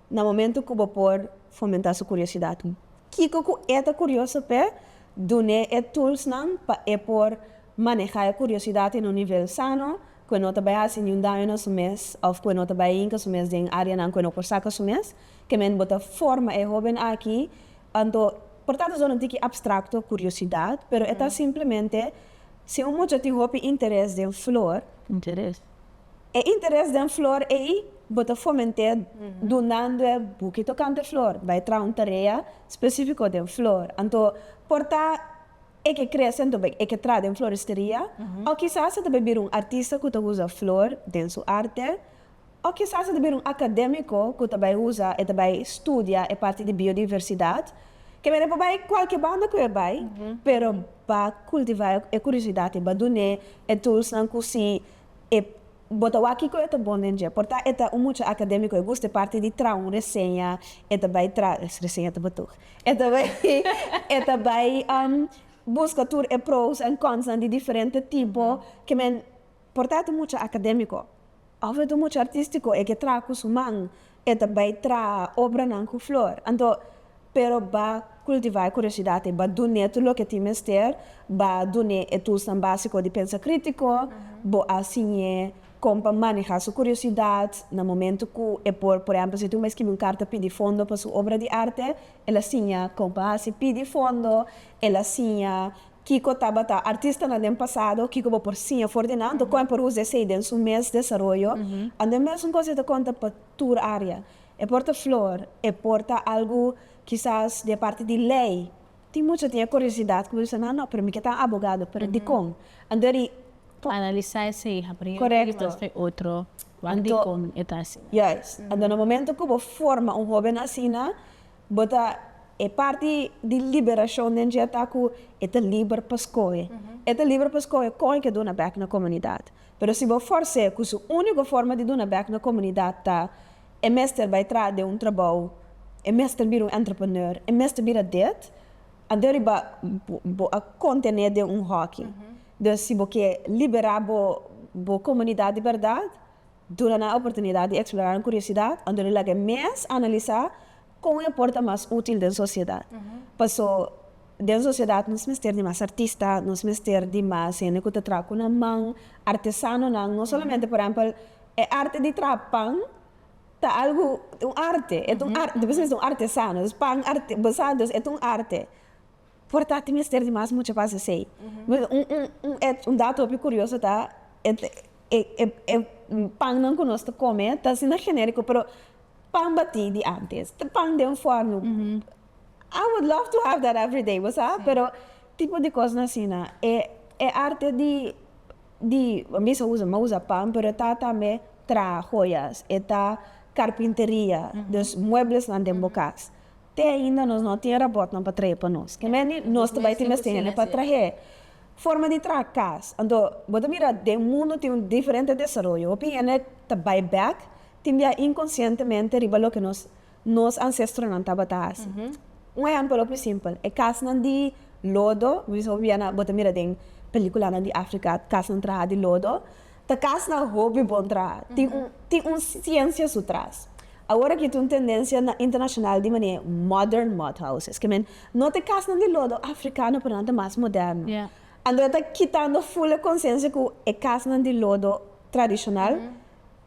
na momento cu bo por fomenta su curiosidad. Kico cu e ta curioso p'e? Dun'e e toolsnan pa e por maneha e curiosidad en un nivel sano, cu e no ta bai haci niun daño na su mes of cu e no ta bai hinca su mes den areanan cu e no por saca su mes. Kement bo ta forma e hoben aki, anto por ta aducido nan tiki abstracto curiosidad, pero e ta simplemente si un mucha tin hopi interes den flor, E interes den flor ei bo ta foment'é dunando e buki tokante flor. Bai traha un tarea spesífiko den flor, anto por ta e ke krese anto bai e ke traha den floristeria, o kisas e ta bai bira un artista ku ta usa flor den su arte, o kisas e ta bira un akadémiko ku ta bai usa, e ta bai studia e parti di biodiversidat. Ke mene pa bai kualke banda ku e bai, pero ba kultivá e kuriosidad i ba dun'é e tulsnan ku si e bo ta wak kiko e ta bon den dje. Por ta e ta un mucha akadémiko, e gusta e parti di traha un reseña, e ta bai traha, es reseña ta batug, e ta bai e ta bai buska tur e pros en konsnan di diferente tipo ke men por ta e ta mucha akadémiko òf e ta mucha artístiko e ke traha ku su man E ta bai traha obranan cu flor. Anto, pero ba cultiva e curiosidad ei, ba dun'é tur loke tin mester, ba dun'é e toolsnan básico di pensa crítico, bo a siñ'é con pa maneha su curiosidad na momento cu e por, por ehemplo, si tin un bay scribi un carta pidi fondo pa su obra di arte, el a siña con pa haci, pidi fondo, el a siña. Kiko tabata artistanan den pasado? Kiko bo por siña for di nan? Anto kon e por usa esei den su mes desaroyo? Anto e mesun kos e ta konta pa tur área. E por ta flor, e por ta algu kisas di e parti di lei. Tin mucha tin e kuriosidad ku bo bisa, nan no, pero mi ke tan abogado, pero dikon? Anto ri. Pa analisá esei hapri un tin mas ke otro, wan dikon e ta asina? Juist. Anto na momentu ku bo forma un hóben asina. Bo ta e parti di liberashon den dje ta ku e ta liber pa skohe. E ta liber pa skohe kon e ke duna bèk na komunidat. Pero si bo fòrs'é ku su úniko forma di duna bèk na komunidat ta e mester bai tras den un trabou, e mester bira un entrepreneur, e mester bira dit, anto riba bo a kontené den un hòki. Dus si bo ke liberá bo komunidat di bèrdat, Duna nan e oportunidat di eksplorá nan kuriosidad, anto di laga e mes analisá kon e por ta mas útil den sosiedad. Pasó, den sosiedad nos mester di mas artista, nos mester di mas hende ku ta traha ku nan man, artesanonan, no solamente por ehèmpel e arte di traha pan ta algu, un arte, e ta un arte, ta bisnis di un artesano, dus pan, bo sa, dus e ta un arte. Por ta tin mester di mas mucha base sei. Un et un dato hopi curioso ta e pannan cu nos ta come ta asina generico pero pan bati di antes ta pan den forno I would love to have that everyday bo sa pero tipo di cosnan asina e arte di di a bisa a usa usa pan pero e ta tambe traha joyas e ta carpinteria dus mueblesnan den bo cas Te ainda nos no tin robotnan pa trahe pa nos. Ke mende nos ta bai tin mester hende pa trahe. Forma di traha cas. Anto bo ta mira den mundo tin un diferente desaroyo. Hopi hende ta bai bek tin bia inconscientemente riba loke nos nos ancestronan tabata haci. Un ehempel hopi simpel. E casnan di lodo, bo ta mira den peliculanan di Africa casnan traha di lodo. Ta cas na hopi bon traha. Tin un tin un ciencia su tras. Awor aki ta un tendencia na internacional di manera modern mud houses. Ke men no ta e casnan di lodo africano pero nan ta mas moderno. Anto e ta kitando full e conciencia cu e casnan di lodo tradicional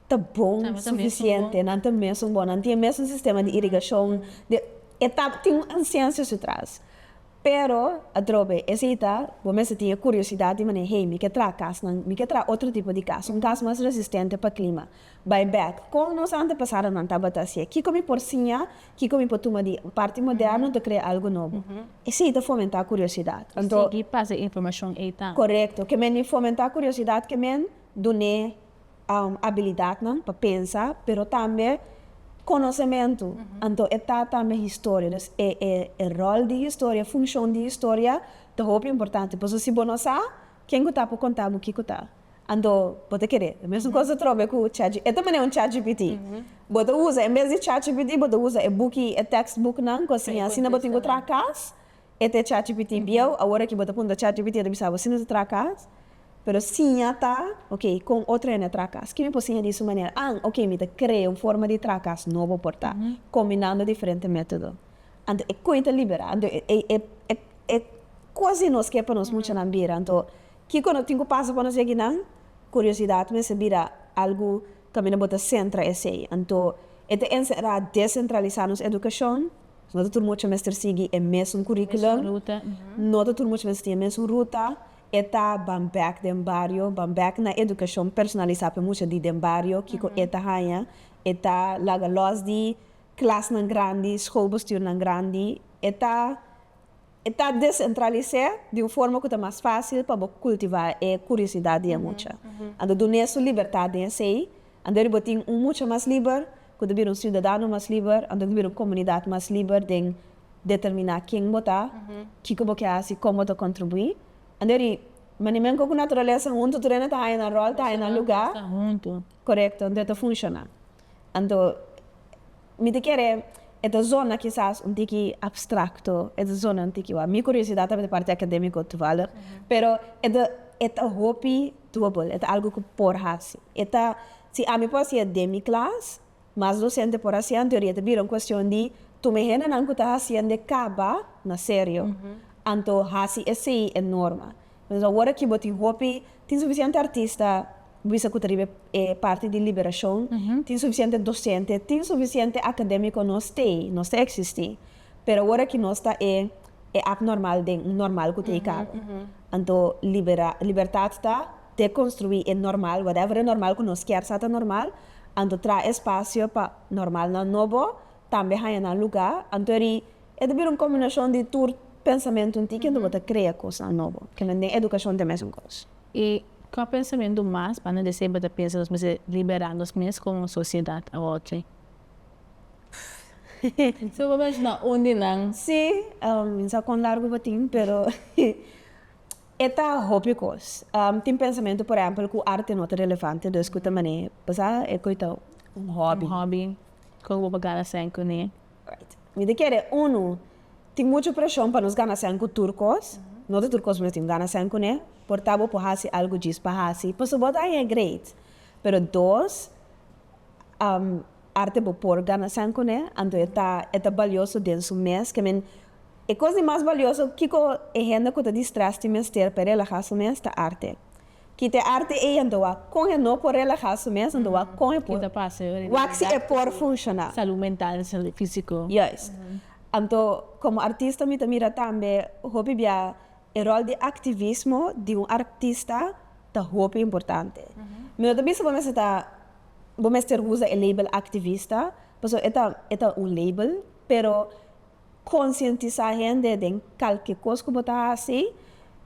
ta bon suficiente, nan ta mesun bon, nan tin e mesun sistema di irigacion, de e ta tin un ciencia su tras. Pero, atrobe, esei ta, bo mester tin e curiosidad di manera, hey, mi ke traha casnan, mi ke traha otro tipo di cas, un cas mas resistente pa clima. Bai bek, con nos antepasadonan tabata haci'e? Kico mi por siña? Kico mi por tuma di parti moderno ta crea algo nobo? Esei ta fomenta curiosidad. Anto. Sigui pasa informacion ei ta. Corecto. Ke men di fomenta curiosidad ke men dun'e. abilidadnan pa pensa pero tambe konosementu anto e ta tambe historia dus e e ròl di historia funshon di historia ta hopi importante pasobra si bo no sa ken ku ta por konta bo kiko ta anto bo ta kere e mesun kos atrobe ku chatgpt e ta manera un chatgpt bo ta usa en bes di chatgpt bo ta usa e buki e tèkstbuknan ku a siña asina bo tin ku traha kas. E te chatgpt bieu awor aki bo ta punta chatgpt a ta bisa bo si no ta traha cas pero siña ta ok con otro hende a traha cas ki mi por siña di su manera an ok mi ta crea un forma di traha cas nobo por ta combinando diferente metodo anto e coin ta libera anto e cos di nos ke pa nos muchanan bira anto kico no tin cu pasa pa nos yaguinan curiosidad mester bira algo caminda bo ta centra esey anto e ta encerra decentralisa nos educacion. No ta tur mucha mester sigui e mesun curriculum, no ta tur mucha mester tin e mesun ruta, e ta ban bek den bario, ban bek na educacion personalisa pa e mucha di den bario, kico e ta haya, e ta laga los di clasnan grandi, schoolbestuurnan grandi, e ta. E ta desentralis'é di un forma ku ta mas fásil pa bo kultivá e kuriosidat di e mucha. Anto dun'é su libertat den esei, anto eri bo tin un mucha mas liber, ku ta bira un siudadano mas liber, anto ku ta bira un komunidat mas liber den determiná ken bo ta, kiko bo ke hasi, kon bo ta kontribuí. Anto eri, manimenko ku naturalesa huntu tur e na ta haña nan ròl, ta haña nan lugá, korekto, anto e ta funshoná. Anto, mi ta kere, e ta zona kisas un tiki abstracto, e ta zona un tiki wak. Mi curiosidad ta di parti academico toevallig, pero e ta e ta hopi dubbel, e ta algo cu por haci. E ta, si ami por hacia den mi clas, mas docente por hacia, en teoria ta bira un cuestion di tuma e hendenan cu ta haciende caba na serio, anto haci esey e norma. Entonces awor aki bo tin hopi, tin suficiente artista bo bisa cu ta riba e parti di liberacion, tin suficiente docente, tin suficiente academico, no stay, no sta existi, pero awor aki no sta e e abnormal den un normal cu ta e caba. Anto libera, libertad ta deconstrui e normal, whatever e normal cu nos kier sa ta normal, anto traha espacio pa normalnan nobo, tambe haya nan lugar, anto eri. E ta bira un kombinashon di tur pensamentunan tin kende bo ta krea kosnan nobo, kende den edukashon ta mesun kos. I kua pensamentu mas pa nos di semper ta pensa nos mester liberá nos mes komo sosiedat a otro? Su a por menshona un di nan? Sí, no sa kon largu bo tin, pero e ta hopi kos. Tin pensamentu, por ehèmpel, ku arte no ta relevante, dus ku ta manera pasá e koitao un hòbi. Un hòbi, kon ku bo por gana sèn kuné. Mi ta kere, unu, tin muchu preshon pa nos gana sèn ku tur kos. No ta tur kos mi no tin gana sèn kuné. Por ta bo por hasi algu djis pa hasi, pasobra bo ta haña great. Pero dos, arte bo por gana sèn kuné, anto e ta e ta balioso den su mes. Ke men, e kos di mas balioso kiko e hende ku ta di strès tin mester pa e relahá su mes, ta arte. Kita e arte ei en doa kon e no por relahá su mes, en doa kon e por wak si e por funshoná. Salú mental i salú físiko. Juis. Anto, komo artista mi ta mira tambe hopi bia e ròl di aktivismo di un artista ta hopi importante. Mi no ta bisa bo mester ta bo mester usa e label aktivista pasobra e ta e ta un label pero, Konsientisá hende den kalke kos ku bo ta hasi,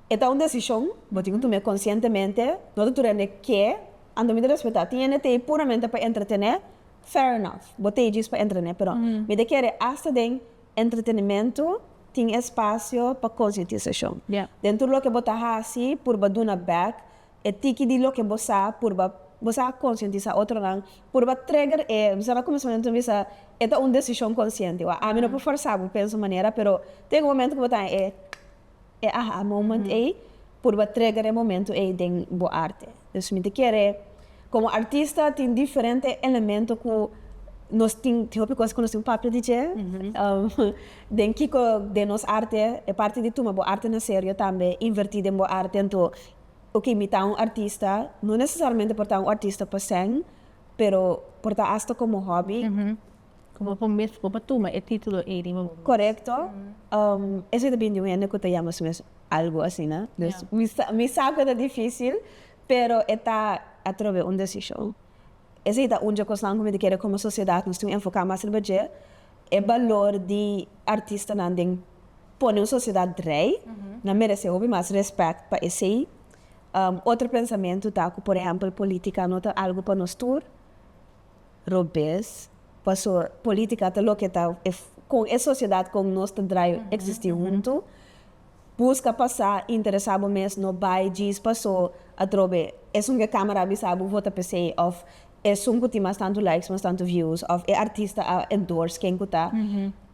e ta un desishon. Bo tin ku tum'é konsientemente. No ta tur hende ke a no mi ta respetá. Tin hende t'ei puramente pa entretené, fair enough, bo t'ei djis pa entretené. Pero mi ta kere asta den entretenimentu tin espasio pa konsientisashon. Den tur loke bo ta hasi, purba duna bèk. E tiki di loke bo sa purba bo sa konsientisá otronan purba trigger e bisa na kuminsamentu mi bisa e ta un desishon konsiente wak ami no por forsá bo pensa un manera pero ta yega un momentu ku bo ta den e e aha moment ei purba trigger e momentu ei den bo arte dus mi ta kere komo artista tin diferente elemento ku nos tin tin hopi kos ku nos tin un papia di dje den kiko den nos arte e parti di tuma bo arte na serio tambe invertí den bo arte anto Oke, imitá un artista no nesesariamente por ta un artista pa sèn, pero por ta asta komo hòbi. Bo por mes bo por tuma e título ei di bo mes. Korekto. Esei ta bini di un hende ku ta yama su mes algu asina. Dus mi sa ku e ta difísil, pero e ta atrobe un desishon. Esei ta un dje kosnan ku mi ta kere komo sosiedat nos tin un enfoká mas riba dje, e balor di artistanan den. Pone un sociedad rey na merece hopi mas respect pa esey. Otro pensamentu ta cu por ehempel politica no ta algo pa nos tur, robes, paso politica ta loke ta e con e sociedad con nos ta draai existi hunto. Busca pasa, interesa bo mes, no bay djis paso atrobe esun cu e camera a bisa bo vota pe esey of Esun cu tin mas tantu likes, mas tantu views of e artista a endorse ken cu ta,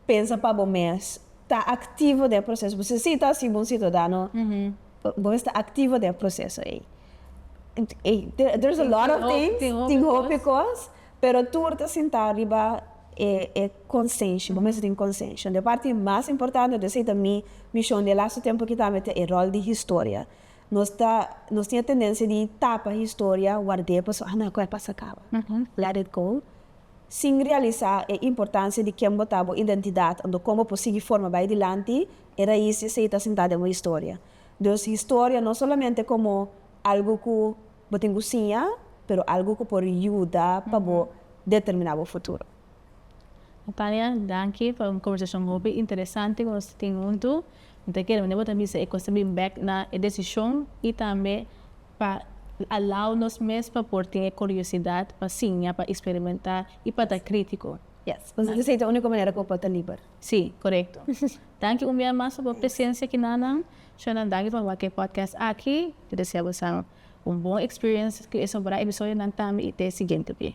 pensa pa bo mes, ta activo den e proceso. Bo si ta así bo un ciudadano, bo mes ta activo den e proceso ey. There's a lot of things, tin hopi cos, pero tur ta sinta riba e conscientia, bo mes a tin conscientia. Dje parti mas importante, dje esey ta mi mision den e lasto tempo aki tambe ta e rol di historia. Nos ta nos tin e tendensia di tapa historia, ward'é pa su ana ku e pasa kaba, let it go, sin realisa e importansia di ken bo ta, bo identidat, anto kon bo por sigui forma bai dilanti, e rais di esei ta sentá den bo historia. Dus historia no solamente komo algu ku bo tin ku siña, pero algu ku por yuda pa bo determiná bo futuro. Tania, danki pa un conversacion hopi interesante cu nos tin huntu. Mi ta kere bo ta bisa e cos ta bin bek na e decision y tambe pa allow nos mes pa por tin e curiosidad pa siña, pa experimenta y pa ta critico. Yes, nos bisa esey ta unico manera cu bo por ta liber. Si, corecto. Danki un bia mas pa bo presencia kinanan. Shona, danki pa wak e podcast aki. Mi ta desea bosa un bon experience cu e sombra episodionan tambe y te siguiente be.